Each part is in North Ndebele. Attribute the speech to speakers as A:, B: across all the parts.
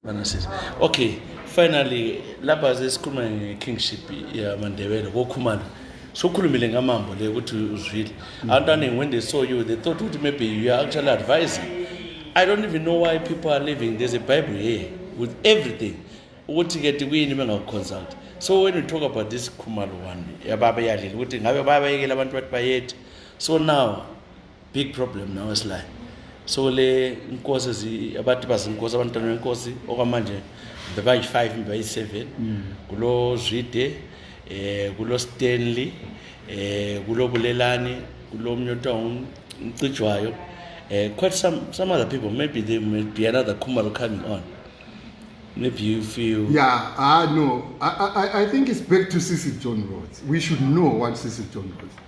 A: Banasisi. Okay, finally lapha sesikhuluma nge-kingship yamandebele kokhumana sokhulumile ngamambo le ukuthi uzwile abantu aningi when they saw you they thought ukuthi maybe you are actually advising i don't even know why people are living there's a bible here with everything ukuthi ke tikuyini bengakuconsult so when you talk about this khumalo one yababa yalile ukuthi ngabe bayabayekela abantu bathi bayethe so now big problem now esilayo so le inkosi abantu bazinkosi abantwana benkosi okwamanje bebayi-five mbe bayi-seven mm. kulo zwide eh kulo stanley eh kulo bulelani kulo mnye othiwa umcijwayo eh quite some some other people maybe there may be another khumalo coming on maybe you feel yeah ah no
B: I, I, i think it's back to sisi john roads we should know what sisi john roads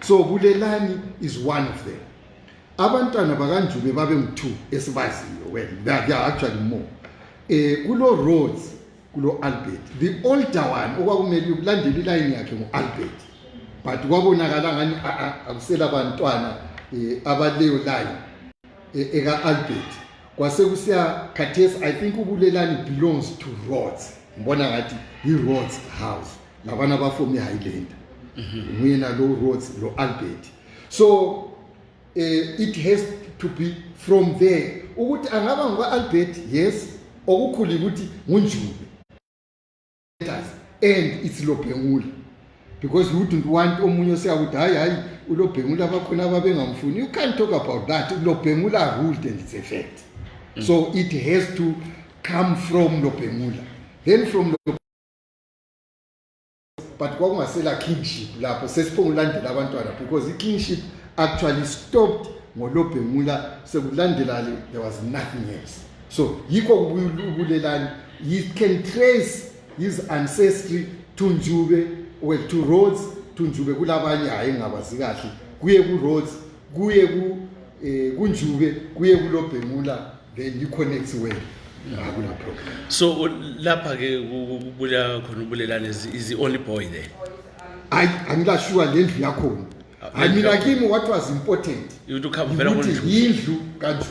B: so bulelani is one of them abantwana bakanjube babe ngu-two esibaziyo well they are actually more um kulo roads kulo albert the older one okwakumele ukulandela ilayini yakhe ngu-albert but kwabonakala ngani akusela bantwana um abaleyo layini eh, eka-albert kwasekusiya khathesi i think ubulelani belongs to roads ngibona ngathi yi-roads house labana bafo mi highlander nguyena lo roads lo albert so uh, it has to be from there ukuthi angaba ngukwa-albert yes okukhulu ukuthi ngunjube and it's lobhengula because you wouldn't want omunye oseyakuthi hayi hayi ulobhengula bakhona ababengamfuni you can't talk about that lobhengula ruled and it's a fact mm. so it has to come from lobhengula then from but kwakungasela kingship lapho sesiphongulandela abantwana because ikingship actually stopped ngolobhemula sekulandela le there was nothing else so yikho ubulelani you can trace his ancestry to njube well to roads to njube kulabanye hhayi ngingabazi kahle kuye ku-roads kuye ku eh kunjube kuye kulobhemula then you connect well akula problem
A: so u- lapha ke ku- ku- kubula khona ubulelane is is the only boy there hayi
B: angilashuwa le ndlu yakhona hayi mina kimi what was important ukuthi ukhamba vela ukuthi
A: konjulu yindlu
B: kanjulu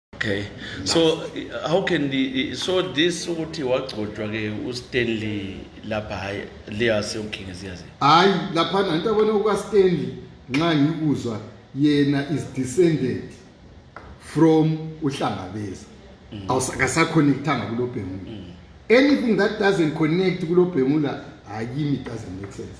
A: okay so uh, how can the, so this ukuthi wagcotshwa ke ustanley lapha hayi leyase ukhingizi yazi hayi laphana
B: into abona ukastanley nxa ngikuzwa yena is descended from uhlangabeza mm. awusakasaconnectanga kulobhemula mm. anything that doesn't connect kulobhemula hayi kimi doesn't make sense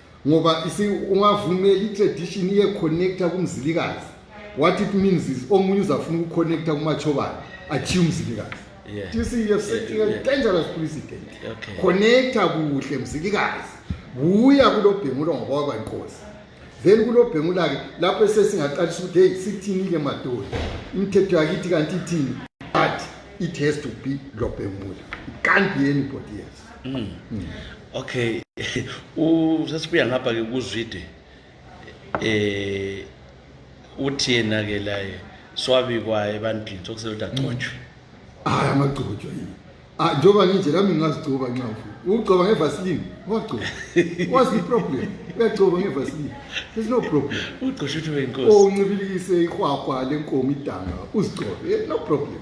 B: ngoba isi ungavumeli i-tradition iye-connecta kumzilikazi what it means is omunye uzafuna ukuconnecta kumachobana achiye umzilikazi Yeah. you see you're
A: setting
B: Yeah, a yeah. dangerous precedent Okay. connecta
A: kuhle
B: mzilikazi buya kulobhengula ngoba wakwankosi then kulobhengula-ke lapho esesingaqalisa ukuthi heyi sithini-ke madoda imithetho yakithi kanti ithini but it has to be lobhengula it can't be anybody else okay
A: sesibuya ngapha ke kuzwide eh uthi yena ke laye swabikwa ebantwini sokusele ukuthi agcotshwe hayi amagcotshwa
B: yini ah, njengoba nginje lami ngingazigcoba nxa ugcoba ngevaseline wagcoba what's the problem uyagcoba ngevaseline there's no problem ugcosha ukuthi wenkosi
A: oh, uncibilikise ihwahwa
B: lenkomo idanga uzigcobe eh, no problem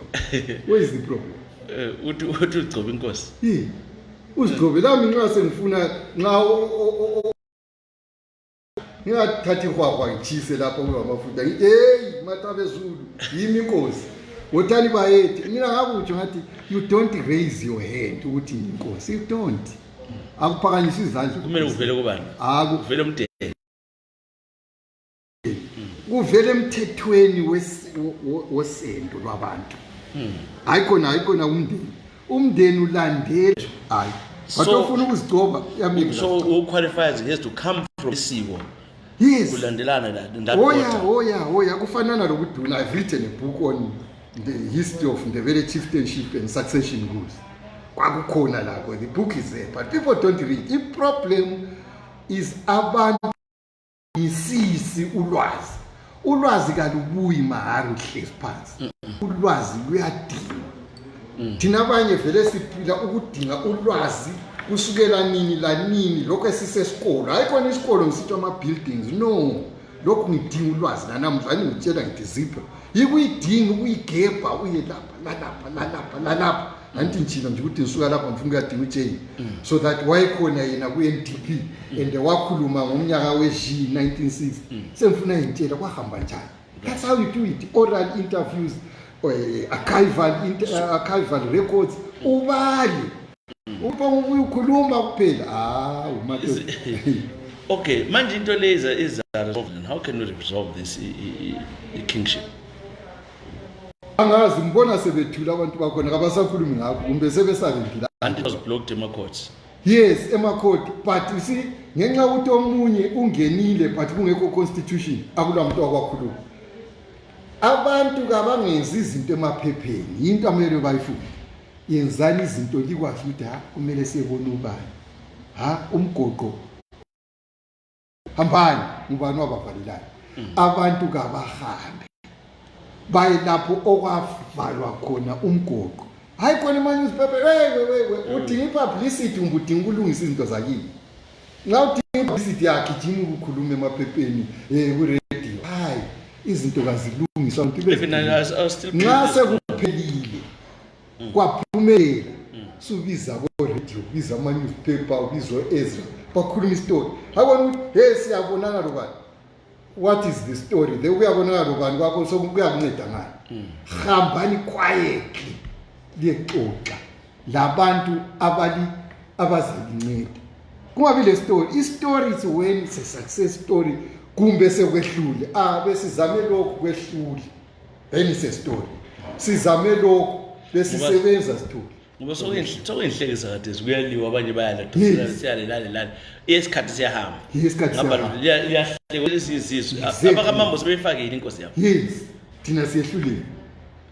B: where is the problem eh, uthi
A: ugcoba inkosi uzigcobe
B: lami nxa sengifuna nxa ngingathathi ihwahwa ngitshise lapho kungamafuta ngithi heyi matabezulu yimi inkosi wotani bayethe mina ngakutsho ngathi you don't raise your hand ukuthi ngiyinkosi you don't akuphakanyisa izandla kumele kuvele kubani
A: akuvele umdeni
B: kuvela emthethweni wosendo lwabantu hmm. hayi khona hayi khona umndeni umndeni ulandela hayi but ofuna ukuzigcoba so who qualifies
A: he has to come from isiko yes
B: kulandelana la oya oya
A: oya kufanana lokuduna i've
B: written a book on the history of ndebele chieftainship and succession rules kwakukhona lakho the book is there but people don't read i problem is abantu ngisisi ulwazi ulwazi kalubuyi mahari uhlezi phansi ulwazi luyadinga mm. thina abanye vele siphila ukudinga ulwazi kusukela nini lanini lokhu esisesikolo hayi khona isikolo ngisithi ama-buildings no lokhu ngidinga ulwazi lanamuhla ani ngitshela ngithi zipho yikuyidinga ukuyigebha uye lapha lalapha lalapha lalapha andithi ndithina nje ukuthi ndisuka lapha ngifuna ukuyadinga ujain so that wayekhona yena ku-n d p and wakhuluma ngomnyaka we-g 1960 sengifuna yintshela kwahamba njani that's how you do it oral interviews uh, archival, inter, uh, archival records ubali uba ubuye ukhuluma kuphela ah umato
A: okay manje into le iza iza resolve how can we resolve this i, i, i kingship
B: angazi ngibona sebethule abantu
A: bakhona kabasakhulumi ngakho
B: kumbe sebesabendile
A: until
B: was blocked emacourts yes emakhoti but you see ngenxa ukuthi omunye ungenile but kungekho constitution akula muntu wakwakhuluma abantu kabangenzi izinto emaphepheni yinto amele bayifunde yenzani izinto likwazi ukuthi ha kumele siyebona ubani ha umgoqo hambani ngubani wabavalelayo mm. abantu kabahambe baye lapho okwavalwa khona umgoqo hayi khona emanewspaper wewewewe mm. udinga ipublicity umbe udinga ukulungisa izinto zakini nxa udinga ipublicity yakhe jima ukukhuluma emaphepheni um eh, kuradio hayi izinto kazilungiswa nxa sekuphelile mm. kwaphumelela mm. subiza koradio ubiza amanewspaper ubiza o-ezra bakhuluma isitori abona ukuthi he siyabonana lobani what is the story the uyabonana lobani kwakho sokuyakunceda ngayo mm. hambani quietly liyexoxa labantu abali abazalinceda kungabi le story istory is when it's a success story kumbe sekwehlule a ah, besizame lokhu kwehlule then it's a story sizame lokho besisebenza sithule ngoba sokuyinhlekisa
A: kathesi kuyaliwa abanye bayalaseyalalelale isikhathi siyahamba abakamambo sebeyifakile inkosi yabo yes thina
B: siyehlulile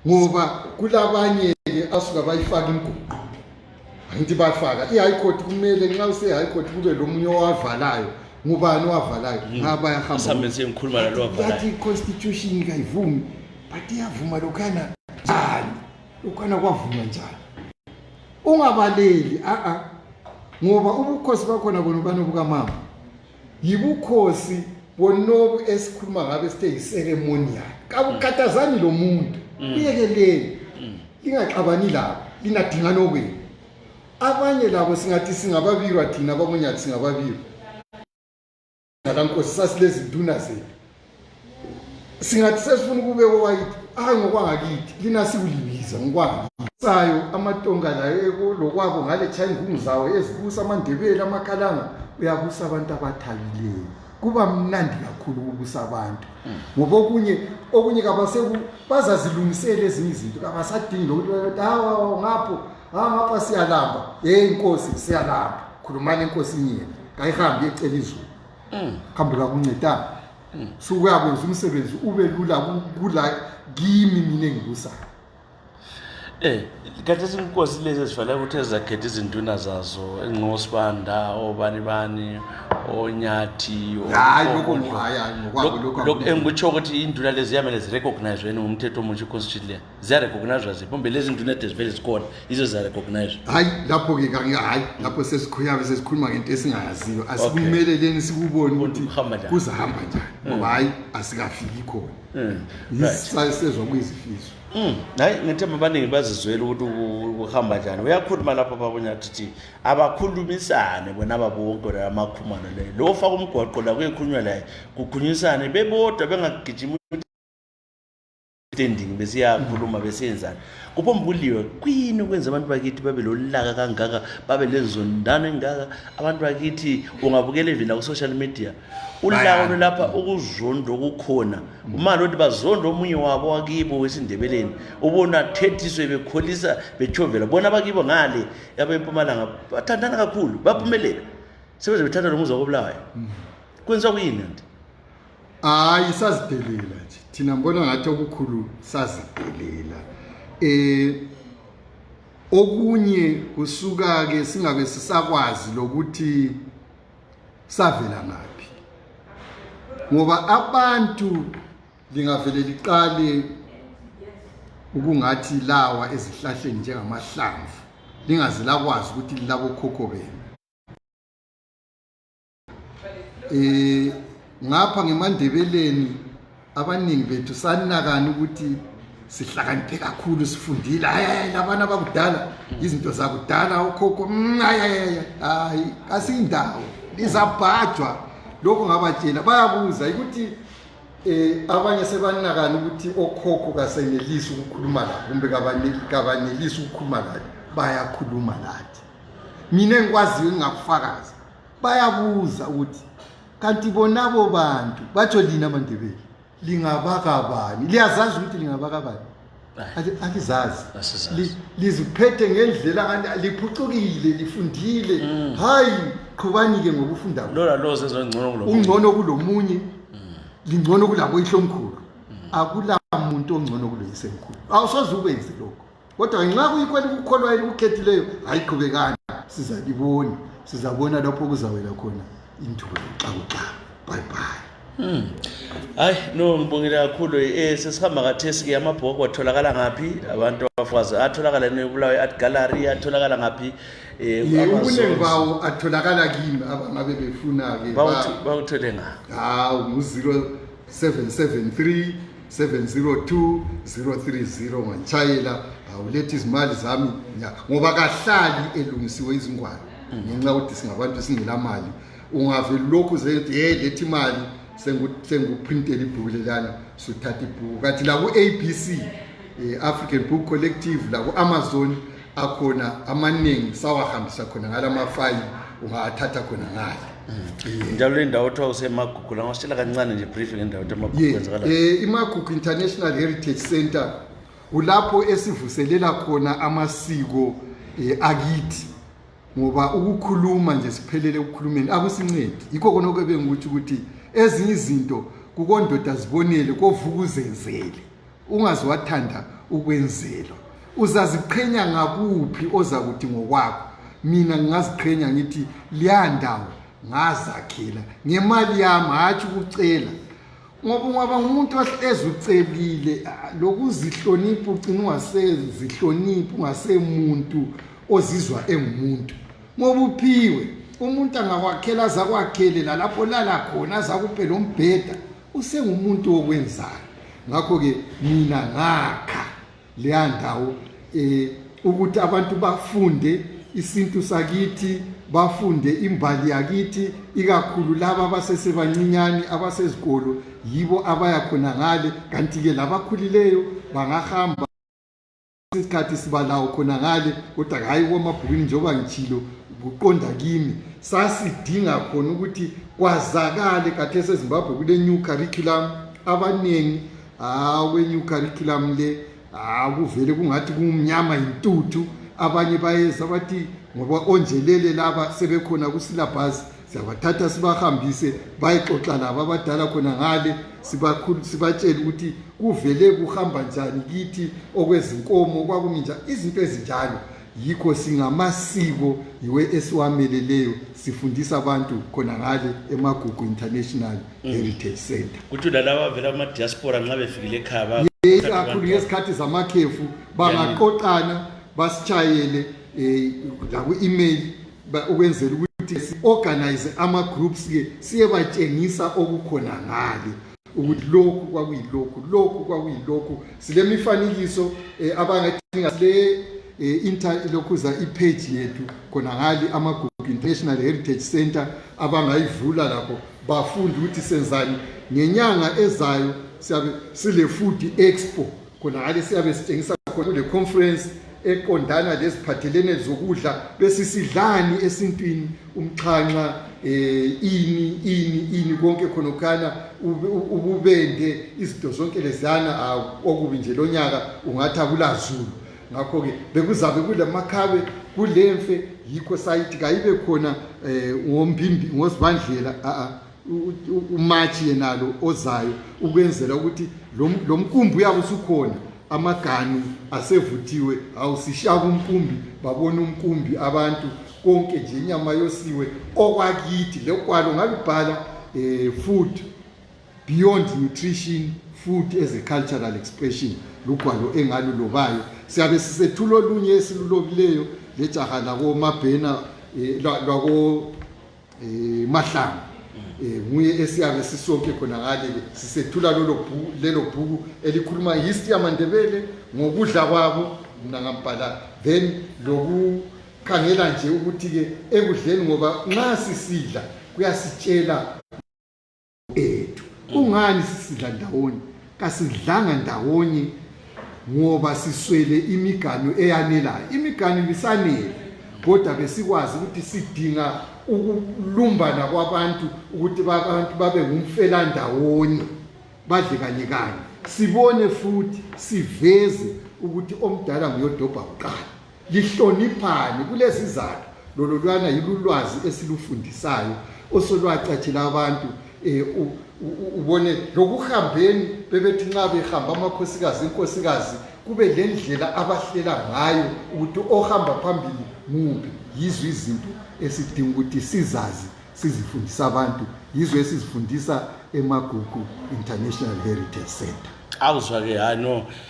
B: ngoba kulabanye-ke asuka bayifaka imguqu angithi bafaka i-high court kumele nxa use-high court kube lo munye owavalayo ngubani owavalayo ngaba bayahamba isambenzi engikhuluma nalo wathi
A: wavalayo i-constitution
B: kayivumi but iyavuma lokhana njani lokhana kwavuma njani ungabaleli a-a ngoba ubukhosi bakhona bona ubani obukamama yibukhosi bonobu esikhuluma ngabe sithe yiseremonial kabukhathazani lo muntu mm. kuyekeleni mm. lingaxabani labo lingadingani okwenu abanye labo singathi singababirwa thina bamunyathi singababirwa ngalankosi sasilezinduna zethu singathi sesifuna ukubeka owayithi hayi ngokwangakithi lina sikulibiza ngokwangakithi sayo amatonga layo lokwabo ngale china ingungu zawo ezibusa amandebele amakhalanga uyabusa abantu abathabileyo kuba mnandi kakhulu ukubusa abantu mm. ngoba okunye okunye kabaseku bazazilungisela ezinye izinto kabasadingi lokuthi bayothi hawa ngapho hawa ngapha siyalamba yeyi inkosi siyalamba khulumani enkosini yena kayihambi ecela izulu mm. kambe kakuncedanga mm. sukuyakwenza umsebenzi ube lula kula kimi mina engikusayo Eh
A: kanti izinkosi lezi ezifanele ukuthi ezakhetha izinduna zazo enqosibanda obani bani onyathi hayi lokho hayi ngokwabo lokho lokho engikutsho ukuthi induna lezi yamele zirecognize wena ngumthetho omutsha iconstitution le ziyarecognizwa ziphi mbe lezi zinto nede zivele zikhona yizo ziyarecognizwa hayi lapho-ke
B: kange hayi lapho sesikhuyame sesikhuluma ngento esingayaziyo asikumeleleni sikuboni ukuthi kuzahamba njani mm. ngoba hayi asikafiki khona mm. yisisezwa kuyizifiso mm. hayi ngithe
A: mabaningi bazizwela ukuthi kuhamba njani uyakhuluma lapho babonyathi ukuthi abakhulumisane bona babonke la amakhumana leyo lo ofaka umgwaqo la kuyekhulunywa laye kukhunyisane bebodwa bengagijima standing besiyakhuluma besiyenzani kuphombuliwe kuyini ukwenza abantu bakithi babe lolaka kangaka babe lenzondano engaka abantu bakithi ungabukela even naku-social media ulaka lolapha ukuzonda okukhona umali othi bazonda omunye wabo wakibo wesindebeleni ubona athethiswe bekholisa betshovela bona abakibo ngale abempumalanga bathandana kakhulu baphumelela sebeze bethatha lo muzi wakobulawayo mm. kwenziwa kuyini nti hayi
B: sazidelela nje thina mbona ngathi okukhulu sazidelela eh okunye kusuka ke singabe sisakwazi lokuthi savela ngaphi ngoba abantu lingavele liqale ukungathi lawa ezihlahleni njengamahlamvu lingaze lakwazi ukuthi lilabokhokho benu eh ngapha ngemandebeleni abaningi bethu sanakani ukuthi sihlakaniphe kakhulu sifundile hayi labana abakudala izinto zakudala okhokho mm, hayi hayi kasiyindawo lizabhajwa lokho ngabatshela bayabuza ukuthi eh abanye sebanakani ukuthi okhokho kasenelisi ukukhuluma la kumbe kabanelisi ukukhuluma la bayakhuluma lathi mina ngikwaziyo ngingakufakaza bayabuza ukuthi kanti bonabo bantu batsho lina mandebele lingabakabani liyazazi ukuthi lingabakabani alizazi
A: liziphethe
B: ngendlela liphucukile lifundile mm. hayi qhubani-ke ngokufunda
A: ungcono kulomunye mm.
B: lingcono kulaboyihlomkhulu mm. akula muntu ongcono kuloyisemkhulu awusoze ukwenze lokho kodwa ngenxa kuyikho elikukholwa elikukhethileyo hayi qhubekani sizalibona sizabona lapho kuzawela khona induku yokuxakuxa bye bye Hmm. Hayi
A: no ngibongile kakhulu eh sesihamba kathesi ke amabhoko atholakala ngaphi abantu abafazi atholakala nebulawe art gallery atholakala ngaphi eh ubuningi
B: bawo atholakala kimi abangabe befuna ke bawuthole nga
A: hawu ngu 0773
B: 702030 ngantshayela awuletha izimali zami ngoba kahlali elungisiwe izingwalo ngenxa yokuthi singabantu singela mali ungave lokhu zethi ye lethi imali sengikuprintela ibhuku lelana suthatha ibhuku kathi laku-abc um eh, african book collective laku-amazon akhona amaningi sawahambisa khona ngala mafayi ungawathatha khona ngale mm. njalo le ndawo kuthiwa
A: usemagugu la ngasitshela kancane nje brief ngendawo ukuthi amagugu Ye, kwenzakala eh, imagugu
B: international heritage center kulapho esivuselela khona amasiko eh, akithi ngoba ukukhuluma nje siphelele ekukhulumeni akusincedi yikho kona okube ngikutsho ukuthi ezinye izinto kukondoda zibonele kovuka uzenzele ungaziwathanda ukwenzelwa uzaziqhenya ngakuphi ozakuthi ngokwakho mina ngingaziqhenya ngithi liyandawo ngazakhela ngemali yami hatshi ukucela ngoba ungaba ngumuntu ohlezi ucelile lokuzihlonipha ugcina ungasezihloniphi ungasemuntu ozizwa engumuntu ngoba uphiwe umuntu angakwakhela azakwakhele lalapho lala khona azakupe lo mbheda usengumuntu wokwenzayo ngakho-ke mina ngakha leya ndawo um ukuthi abantu bafunde isintu sakithi bafunde imbali yakithi ikakhulu laba abasesebancinyane abasezikolo yibo abaya khona ngale kanti-ke labakhulileyo bangahamba isikhathi sibalawo khona ngale kodwa hhayi kwamabhukwini njengoba ngitshilo kuqonda kimi sasidinga khona ukuthi kwazakale kathi esezimbabwe kule-new curriculum abaningi hawu kwe-new curriculum le hawu kuvele kungathi kumnyama yintuthu abanye bayeza bathi ngoba onjelele laba sebekhona kusilabhasi siyabathatha sibahambise bayexoxa labo abadala khona ngale sibatshele ukuthi kuvele kuhamba njani kithi okwezinkomo kwakumi njani izinto ezinjalo yikho singamasiko yiwe esiwameleleyo sifundisa abantu khona ngale emagugu international mm. heritage center kuthi lalaba avela
A: amadiaspora nxa befikile ekhaba ikakhulu ngezikhathi
B: zamakhefu bangaqoqana basitshayele um eh, laku-email ukwenzela ukuthi si-organize ama-groups-ke siyebatshengisa okukhona ngale ukuthi lokhu kwakuyilokhu lokhu kwakuyilokhu silemifanekiso um eh, abangathinga le eh, inter lokhuza ipage yethu khona ngali amagugu international heritage center abangayivula lapho bafunde ukuthi senzani ngenyanga ezayo siyabe sile-food expo khonangale siyabe sitshengisa khona kule conference eqondana leziphathelene zokudla besisidlani esintwini umxhanxa um eh, ini ini ini konke khonokhana ububende izinto zonke leziyana okubi nje lo nyaka ungathi akulazulu ngakho-ke bekuzabe kulamakhabe kulemfe yikho sayithi kayibe khona um ngombimbi ngozibandlela a-a umatshi yenalo ozayo ukwenzela ukuthi lo mkumbi uyabe usukhona amaganu asevuthiwe awusishaka umkumbi babona umkumbi abantu konke nje inyama yosiwe okwakithi lokwalo ngalubhala um eh, food beyond nutrition food as a cultural expression lugwalo engalulobayo siyabe sisethula olunye esilulobileyo lejaha lakomabhena um eh, lwako eh mahlanga eh nguye esiyabe sisonke khona ngale sisethula lelo bhuku lelo bhuku elikhuluma history yamandebele ngokudla kwabo mina ngambhala then lokukhangela nje ukuthi ke ekudleni ngoba nxa sisidla kuyasitshela ethu kungani sisidla ndawonye kasidlanga ndawonye ngoba siswele imiganu eyanelayo imiganu ibisanele kodwa besikwazi ukuthi sidinga ukulumbana kwabantu ukuthi abantu babe ngumfelandawonye badle kanye kanye sibone futhi siveze ukuthi omdala nguyodobha kuqala lihloniphani kulezizathu lololwana yilulwazi esilufundisayo osolwacatshela abantu um ubone lokuhambeni bebethi nxa behamba amakhosikazi inkosikazi kube lendlela abahlela ngayo ukuthi ohamba phambili muphi yizo izinto esidinga ukuthi sizazi sizifundisa abantu yizo esizifundisa emagugu international heritage center awuzwa-ke hayi no